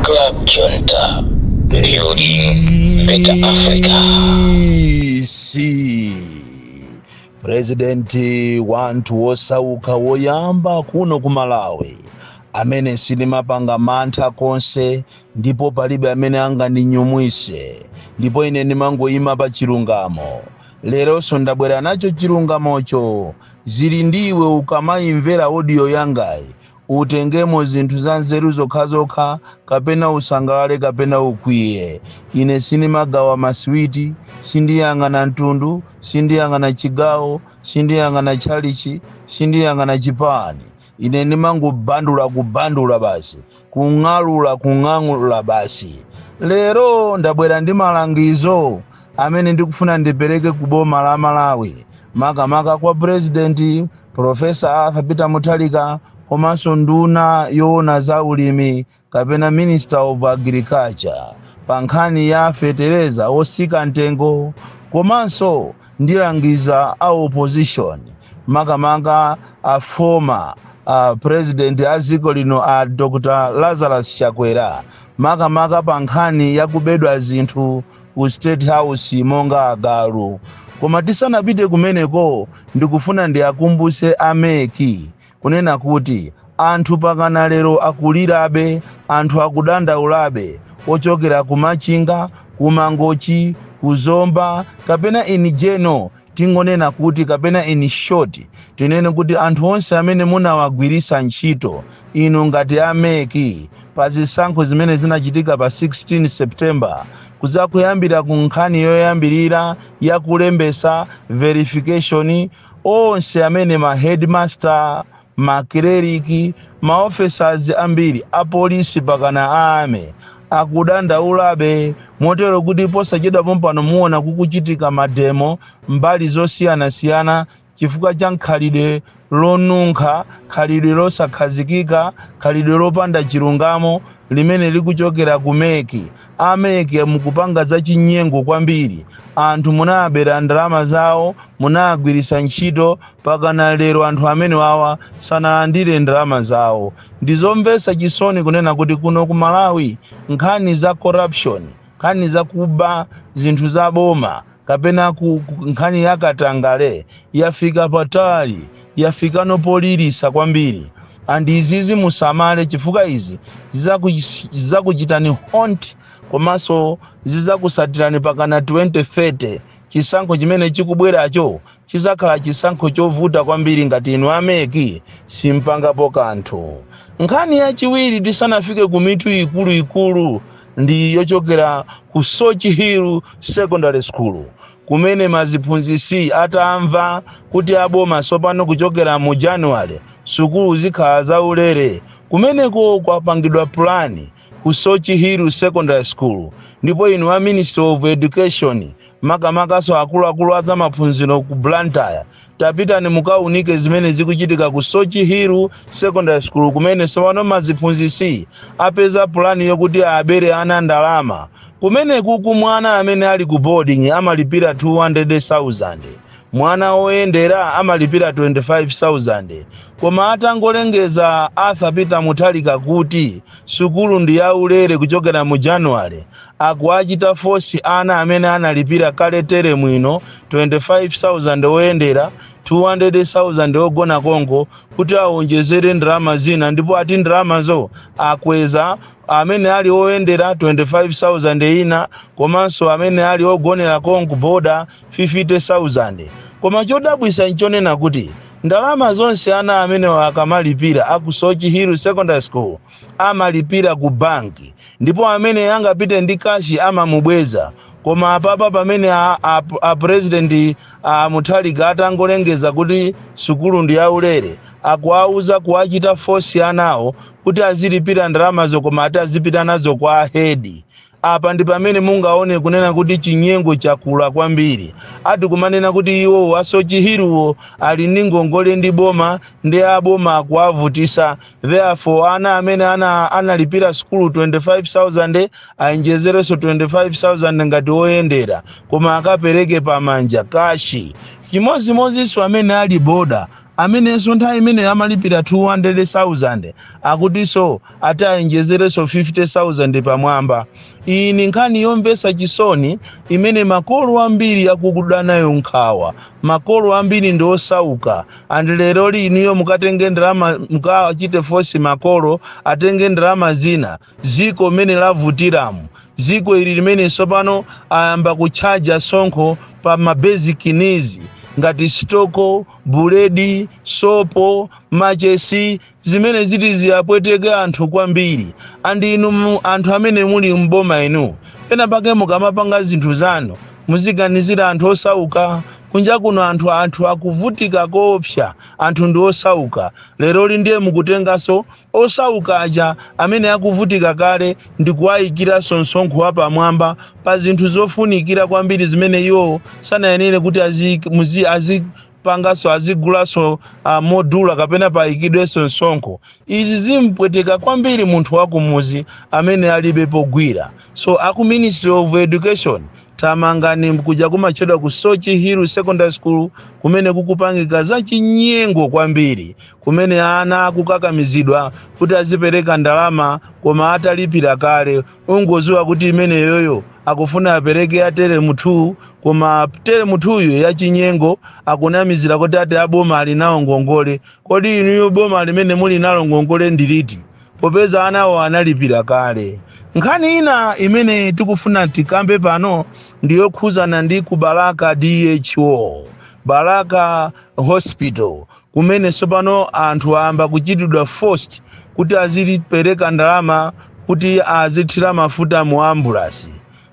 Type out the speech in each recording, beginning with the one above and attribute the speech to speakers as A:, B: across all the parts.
A: Club Junta. Building Better Africa.
B: purezidenti wa anthu osauka woyamba kuno ku malawi amene sindimapanga mantha konse ndipo palibe amene angandinyumwise ndipo ine ndimangoyima pa chilungamo leronso ndabwera nacho chilungamocho Zili ndi iwe ukamaimvera audio yangayi utengemo zinthu za nzeru zokhazokha kapena usangalale kapena ukwiye. Ine sindimagawa maswiti, sindiyang'ana mtundu, sindiyang'ana chigawo, sindiyang'ana tchalitchi, sindiyang'ana chipani. ine ndimangobandula kubandula basi kung'alula kung'alula basi lero ndabwera ndi malangizo amene ndikufuna ndipereke ku boma la malawi makamaka kwa purezidenti profesa arthur peter mutharika komanso nduna yoona za ulimi kapena Minister of Agriculture pa nkhani ya fetereza otsika mtengo komanso ndilangiza a opposition makamaka a former a president a dziko lino a Dr. Lazarus Chakwera makamaka pa nkhani ya kubedwa zinthu ku State House monga agalu. Koma tisanapite kumeneko ndikufuna ndiwakumbutse a MEC kunena kuti, Anthu pakana lero akulirabe, anthu akudandaulabe, ochokera ku Machinga, ku Mangochi, ku Zomba, kapena in general tingonena kuti kapena in short tinene kuti anthu onse amene munawagwiritsa ntchito inu ngati a MEC pa zisankho zimene zinachitika pa 16 September kudzakuyambira ku nkhani yoyambirira ya kulembetsa verification onse amene ma headmaster, ma clerk, ma officers ambiri a polisi pakana a army akudandaulabe motero kuti posachedwa pompano muona kukuchitika mademo mbali zosiyanasiyana chifukwa cha khalidwe lonunkha, khalidwe losakhazikika, khalidwe lopanda chilungamo limene likuchokera ku MEC. a mec mukupanga za chinyengo kwambiri anthu munawabera ndalama zawo munawagwiritsa ntchito pakana lero anthu amenewawa sanalandire ndalama zawo ndizomvetsa chisoni kunena kuti kuno ku malawi nkhani za corruption nkhani za kuba zinthu za boma kapena ku, ku nkhani ya katangale yafika patali yafika no poliritsa kwambiri and izizi musamale chifukwa izi zizakuch- zizakuchitani haunt komanso zizakutsatirani pakana 2030 chisankho chimene chikubweracho Chidzakhala chisankho chovuta kwambiri ngati inu a MEC simpangapo kanthu. Nkhani yachiwiri tisanafike ku mitu ikulu ikulu ndi yochokera ku Soche Hill Secondary School kumene maziphunzitsi atamva kuti a boma tsopano kuchokera mu January sukulu zikhala za ulere kumeneko kwapangidwa plan ku Soche Hill Secondary School ndipo inu a Ministry of Education makamakanso akuluakulu a zamaphunziro ku Blantyre tapitani mukaunike zimene zikuchitika ku Soche Hill Secondary School kumene sopano maziphunzisi apeza pulani yokuti abere ana ndalama kumene kuku mwana amene ali ku boarding amalipira 200,000 Mwana oyendera amalipira 25,000 koma atangolengeza Arthur Peter Mutharika kuti sukulu ndi ya ulere kuchokera mu January, akuwachita force ana amene analipira kale teremu ino 25,000 oyendera, 200,000 ogona konko kuti awonjezere ndalama zina ndipo ati ndalamazo akweza amene ali oyendera 25,000 ina komanso amene ali ogonera konko boarder 50,000. Koma chodabwisa nchonena kuti ndalama zonse ana amenewa akamalipira a ku Soche Hill Secondary School amalipira ku bank ndipo amene angapite ndi cash amamubweza koma apapa pamene a, a, a president a Mutharika atangolengeza kuti sukulu ndi yaulere akuwauza kuwachita force anawo kuti azilipira ndalamazo koma ati azipita nazo kwa head Apa ndi pamene mungaone kunena kuti chinyengo chakula kwambiri. Ati kumanena kuti iwowo a Soche Hill-wo ali ndi ngongole ndi boma nde a boma akuwavutisa therefore ana amene analipira sukulu 25,000 ayenjezerenso 25,000 ngati oyendera koma akapereke pamanja, kashi. Chimodzimodzinso amene ali boarder amenenso nthawi imeneyo amalipira 200,000 akutinso ati ayenjezerenso 50,000 pamwamba. Iyi ni nkhani yomvetsa chisoni imene makolo ambiri akukuda nayo nkhawa. Makolo ambiri ndi osauka and lero li inuyo mukatenge ndalama mukawachite force makolo atenge ndalama zina dziko mmene lavutiramu, dziko ili limene sopano ayamba kutchaja sonkho pa ma basic needs ngati stoko, buledi, sopo, machesi zimene ziti ziyapweteke anthu kwambiri and inu mu- anthu amene muli mboma inu pena pake mukamapanga zinthu zanu muziganizira anthu osauka kunja kuno anthu anthu akuvutika koopsa anthu ndi osauka lero li ndiye mukutenganso osauka aja amene akuvutika kale ndi kuwayikiranso msonkho wapamwamba pa zinthu zofunikira kwambiri zimene iwo sanayenere kuti aziik- muzi- azipanganso azigulanso uh, modula kapena payikidwenso msonkho izi zimpweteka kwambiri munthu wakumuzi amene alibe pogwira so aku ministry of education thamangani kuja kumatchedwa ku soche hill secondary school kumene kukupangika zachinyengo kwambiri kumene ana akukakamizidwa kuti azipereka ndalama koma atalipira kale ungoziwa kuti imeneyoyo akufuna apereke ya teremu 2 koma teremu 2yo yachinyengo akunamizira kuti ati aboma ali nawo ngongole kodi inuyo boma limene muli nalo ngongole ndiliti popeza anawo analipira kale nkhani ina imene tikufuna tikambe pano ndiyokhuzana ndi ku balaka dho balaka hospital kumene tsopano anthu ayamba kuchitidwa force kuti azilipereka ndalama kuti azithira mafuta mu ambulasi.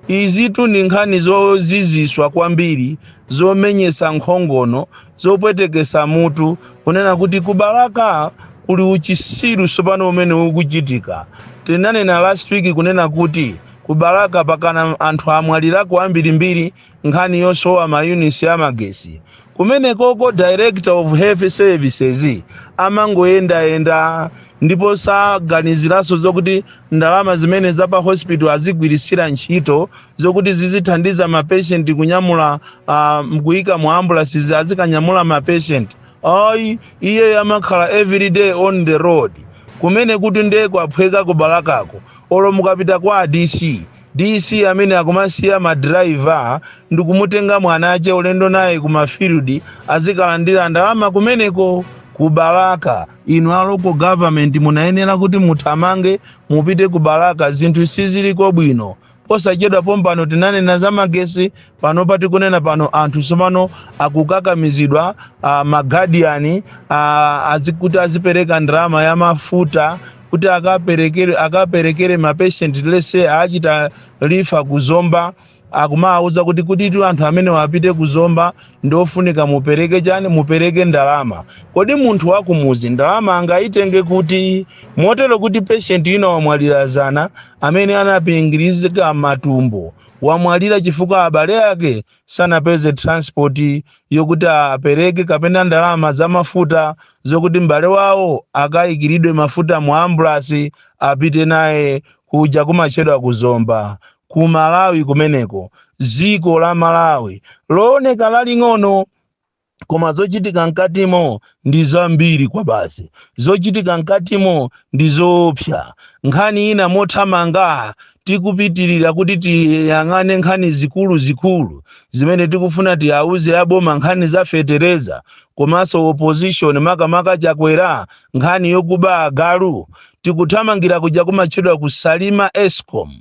B: Izitu ndi nkhani zoziziswa kwambiri, zomenyesa nkhongono, zopwetekesa mutu, kunena kuti ku Balaka kuli uchisiru tsopano umene ukuchitika. Tinanena last week kunena kuti ku Balaka pakana anthu amwalirako ambirimbiri, nkhani yosowa ma units a magesi kumenekoko director of health services amangoyendayenda ndipo saganiziranso zokuti ndalama zimene za pa hospital azigwiritsira ntchito zokuti zizithandiza mapeshenti kunyamula uh, nkuyika mu ambulances azikanyamula mapeshenti ayi iyeyo amakhala everyday on the road kumene kuti nde kwaphweka ku balakako olo mukapita kwa a dc DC amene akumasiya ma driver ndikumutenga mwanache ulendo naye ku ma field azikalandira ndalama kumeneko ku Balaka. Inu a local government munayenera kuti muthamange mupite ku Balaka zinthu siziliko bwino. Posachedwa pompano tinanena za magesi, Panopa tikunena pano anthu tsomano akukakamizidwa uh, magadiyani uh, azikuti azipereka ndalama ya mafuta kuti akaperekere akaperekere mapeshenti let's say achita refer ku zomba akumawauza kuti kuti tu anthu amenewa apite ku zomba ndi ofunika mupereke chani mupereke ndalama kodi munthu wakumuzi ndalama angayitenge kuti motero kuti peshenti ina wamwalira zana amene anapingirizika matumbo wamwalira chifukwa abale ake sanapeze transport yokuti apereke kapena ndalama za mafuta zokuti m'bale wawo akayikiridwe mafuta mu ambulance apite naye kuja kumatchedwa ku Zomba ku Malawi kumeneko dziko la Malawi looneka laling'ono koma zochitika mkatimo ndi zambiri kwabasi zochitika mkatimo ndi zoopsa nkhani ina mothamanga tikupitirira kuti tiyang'ane nkhani zikulu zikulu zimene tikufuna tiyauze aboma nkhani za fetereza komanso opposition makamaka chakwera nkhani yokuba agalu tikuthamangira kuja kumatchedwa ku Salima escom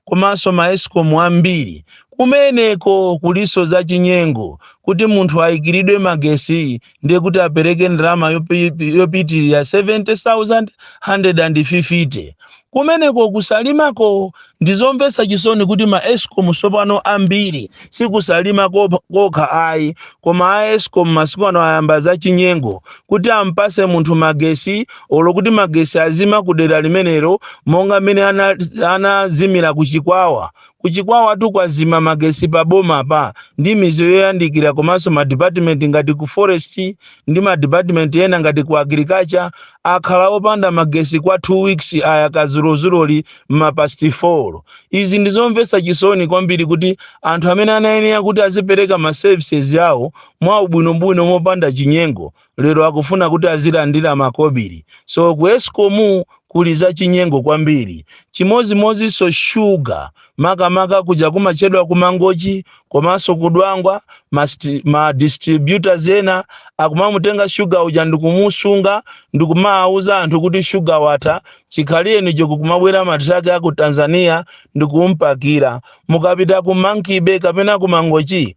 B: komanso ma escom ambiri kumeneko kuliso za chinyengo kuti munthu aikilidwe magesi ndiye kuti apereke ndalama yopi- yopitirira 70000 150 kumeneko ku Salimako ndizomvetsa chisoni kuti ma escom sopano ambiri si ku Salima kopha- kokha ayi koma a escom masiku ano ayamba za chinyengo kuti ampase munthu magesi olo kuti magesi azima ku dera limenelo monga mmene ana- anazimira ku chikwawa ku chikwawa tu kwazima magesi pa boma pa ndi mizi yoyandikira komanso madipatimenti ngati ku forest ndi madipatimenti ena ngati ku agriculture akhala opanda magesi kwa 2 weeks ayaka zulozuloli m'mapasti 4 izi ndi zomvetsa chisoni kwambiri kuti anthu amene anayenera kuti azipereka ma services awo mwaubwinobwino mopanda chinyengo lero akufuna kuti azilandira makobili so ku escom kuli zachinyengo kwambiri chimodzimodzinso shuga makamaka kuja kumachedwa ku Mangochi komanso ku Dwangwa ma, sti- ma distributors ena akumamutenga shuga uja ndikumusunga ndikumawuza anthu kuti shuga watha chikhalirenicho kukumabwera matraki a ku Tanzania ndikumpakira Mukapita ku Monkey-Bay kapena ku Mangochi,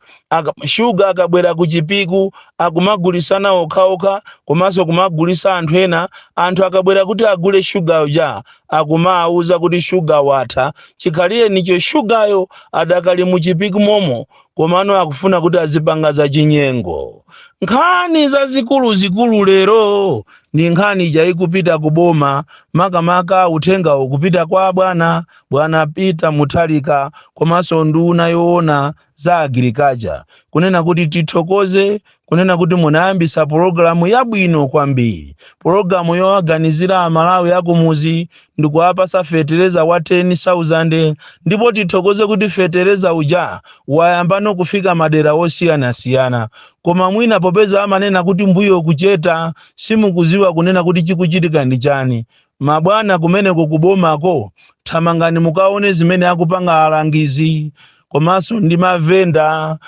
B: Shuga akabwera ku Chipiku akumagulitsana okhaokha komanso kumagulitsa anthu ena, anthu akabwera kuti agule Shuga uja akumawauza kuti Shuga watha, chikhalirenicho Shugayo adakali mu Chipiku momo komano akufuna kuti azipanga zachinyengo. Nkhani zikuluzikulu lero ndi nkhani ija ikupita ku boma makamaka uthengawo ukupita kwa abwana Bwana Peter Mutharika komanso nduna yoona za agriculture kunena kuti tithokoze kunena kuti munayambisa pologalamu yabwino kwambiri pologalamu yowaganizira amalawi akumuzi ndikuwapasa fetereza wa 10000 ndipo tithokoze kuti fetereza uja wayamba no kufika madera osiyanasiyana koma mwina popeza amanena kuti mbuyo kucheta simukuziwa kunena kuti chikuchitika ndi chani Mabwana kumeneko ku bomako thamangani mukaone zimene akupanga alangizi komanso ndi mavenda.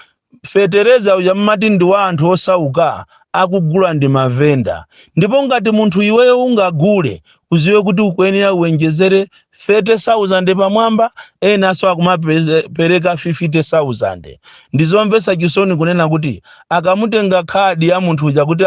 B: Fetereza uja mumati ndi wa anthu osauka akugula ndi mavenda ndipo ngati munthu iweyo ungagule uziwe kuti ukuyenera uwenjezere 30,000 pamwamba enanso akumapereka 50,000. Ndizomvetsa chisoni kunena kuti akamatenga khadi ya munthu uja kuti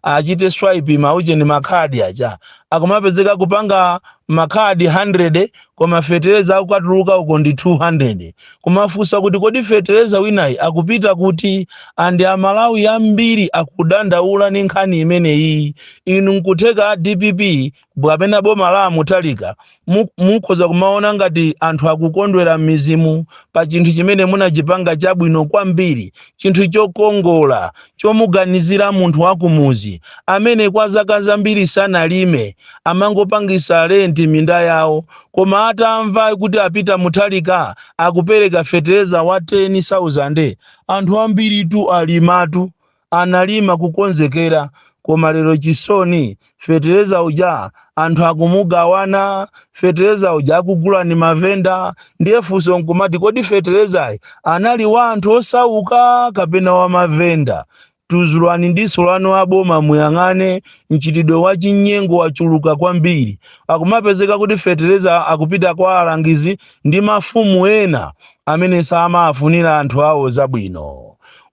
B: achite swipe ma ujeni ma khadi aja, akumapezeka kupanga makhadi 100 koma fetereza akukatuluka uko ndi 200 kumafunsa kuti kodi fetereza winayi akupita kuti and Amalawi ambiri akudandaula ni nkhani imeneyi inu nkutheka dpp kapena boma la a Mutharika Mu- mukhoza kumaona ngati anthu akukondwera m'midzimu pa chinthu chimene munachipanga chabwino kwambiri chinthu chokongola chomuganizira munthu wakumuzi amene kwa zaka zambiri sanalime amangopangisa renti minda yawo koma atamva kuti a Peter Mutharika akupereka fetereza wa 10000 anthu ambiritu alimatu analima kukonzekera koma lero chisoni fetereza uja anthu akumugawana fetereza uja akugula ndi mavenda ndiye funso nkumati kodi feterezayi anali wa anthu osauka kapena wa mavenda tuzulani diso lanu aboma muyang'ane mchitidwe wa chinyengo wachuluka kwambiri akumapezeka kuti fetereza akupita kwa alangizi ndi mafumu ena amene samafunira anthu awo zabwino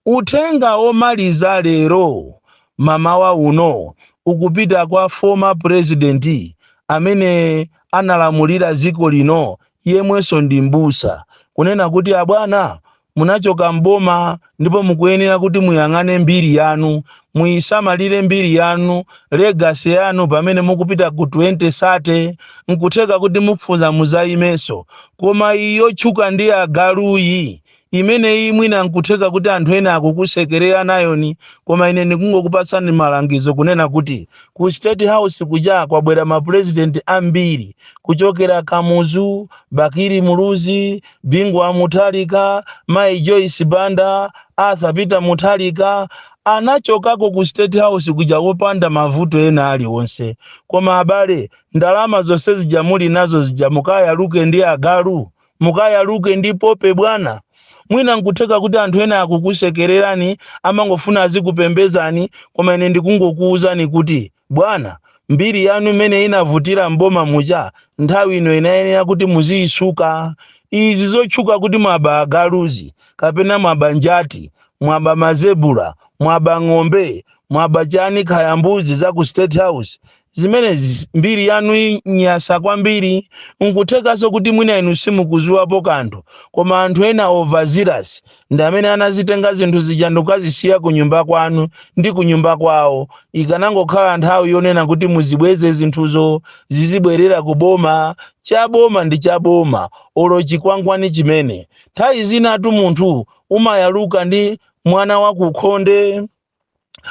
B: Uthenga omaliza lero mamawa uno ukupita kwa former president amene analamulira dziko lino yemwenso ndi m'busa kunena kuti abwana munachoka m'boma ndipo mukuyenera kuti muyang'ane mbiri yanu, muyisamalire mbiri yanu, legacy yanu pamene mukupita ku 2030 nkutheka kuti mukufuna muzayimenso koma iyi yotchuka ndi agaluyi Imeneyi mwina nkutheka kuti anthu ena akukusekererani koma ine ndikungokupatsani malangizo kunena kuti ku state house kuja kwabwera ma president ambiri kuchokera Kamuzu, Bakili Muluzi, Bingu Wa Mutharika, Mayi Joyce Banda, Arthur Peter Mutharika anachokako ku state house kuja opanda mavuto ena alionse koma abale ndalama zonse zija muli nazo zija mukayaluke ndi agalu? Mukayaluke ndi pope bwana. Mwina nkutheka kuti anthu ena akukusekererani, amangofuna azikupembezani, koma ine ndikungokuuzani kuti bwana, mbiri yanu mmene inavutira m'boma muja, nthawi ino inayenera kuti muziisuka. Izi zotchuka kuti mwaba agaluzi, kapena mwaba njati, mwaba mazebura, mwaba ng'ombe, mwaba chani kaya mbuzi za ku state house, Zimenezi mbiri yanu inyasa kwambiri, nkuthekanso kuti mwina inu simukuziwapo kanthu koma anthu ena overzealous ndi amene anazitenga zinthu zija ndikukazisiya kunyumba kwanu ndi kunyumba kwawo, ikanangokhala nthawi yonena kuti muzibweze zinthuzo zizibwerera ku boma, cha boma ndi cha boma olo chikwangwani chimene. Nthawi zinatu munthu umayaluka ndi mwana wakukhonde.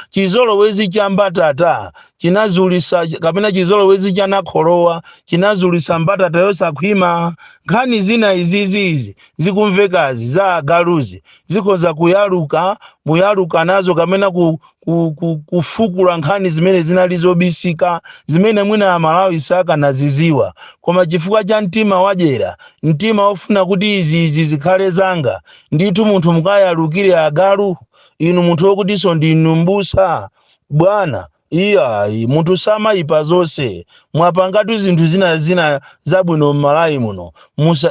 B: chizolowezi cha mbatata chinazulisa kapena chizolowezi cha nakholowa chinazulisa mbatata yosakhwima nkhani zina izizizi zikumvekazi za agaluzi zikhoza kuyaluka muyaluka nazo kapena ku, ku, ku, kufukula nkhani zimene zinali zobisika zimene mwina amalawi sakanaziziwa koma chifukwa cha mtima wadyera mtima ofuna kuti izi izi zikhale zanga ndithu munthu mukayalukire agalu inu munthu wokutinso ndinu m'busa bwana iyayi munthu samayipa zonse mwapangatu zinthu zina zina zabwino m'malawi muno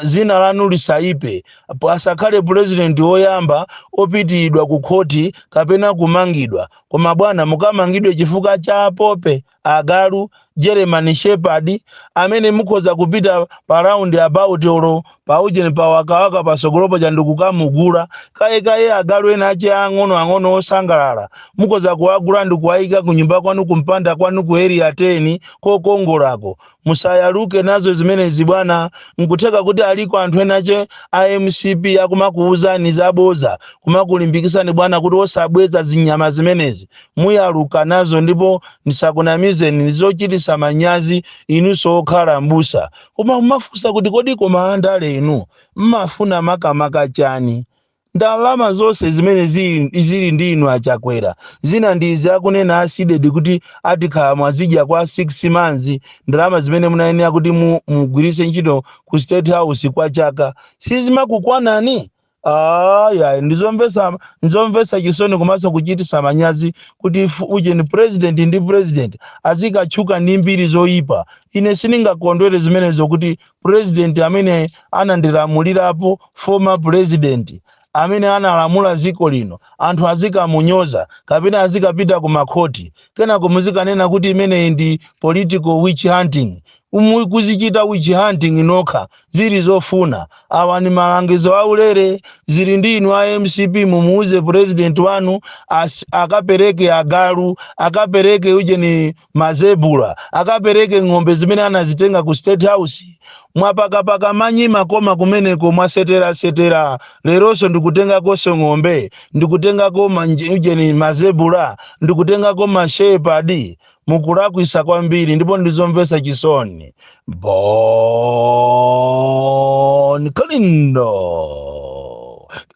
B: zina lanu lisayipe asakhale pulezidenti woyamba opitiridwa ku khoti kapena kumangidwa koma bwana mukamangidwe chifukwa cha apope agalu, German shepherd, amene mukhoza kupita pa round about olo pa ujeni pa wakawaka patsogolo paja ndikukamugula kayekaye agalu ena ache ang'ono ang'ono osangalala mukhoza kuwagula ndikuwayika kunyumba kwanu kumpanda kwanu ku area 10 kokongolako Musayaluke nazo zimenezi bwana, nkutheka kuti aliko anthu enache a mcp akumakuuzani zaboza kumakulimbikisani bwana kuti osabweza zinyama zimenezi. Muyaluka nazo ndipo ndisakunamizeni ndizochitisa manyazi inunso okhala m'busa koma mumafunsa kuti kodi koma andale inu mmafuna makamaka chani? Ndalama zonse zimene zili, zili ndi inu a Chakwera. Zina ndi izi akunena a Cdedi kuti atikhala mwazidya kwa 6 months, ndalama zimene munayenera kuti mu mugwiritse ntchito ku state house kwa chaka sizimakukwanani? Aaa yayi ndizomvetsa nzomvetsa chisoni komanso kuchititsa manyazi kuti fu ujeni president ndi president azikatchuka ndi mbiri zoyipa. Ine sindingakondwere zimenezo kuti president amene anandilamulirapo former president amene analamula dziko lino anthu azikamunyoza kapena azikapita ku makhoti kenako muzikanena kuti imeneyi ndi political witch hunting Umu- kuzichita witch hunting nokha zili zofuna awa ni malangizo aulere zili ndi inu a mcp mumuuze president wanu as, akapereke agalu akapereke ujeni Mazebula akapereke ng'ombe zimene anazitenga ku state house. Mwapakapaka manyi mmakoma kumeneko mwasetera setera leronso ndikutengakonso ng'ombe ndikutengako ma ujeni mazebula ndikutengako ma shepherd mukulakwisa kwambiri ndipo ndizomvesa chisoni. Bon Kalindo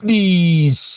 B: DC.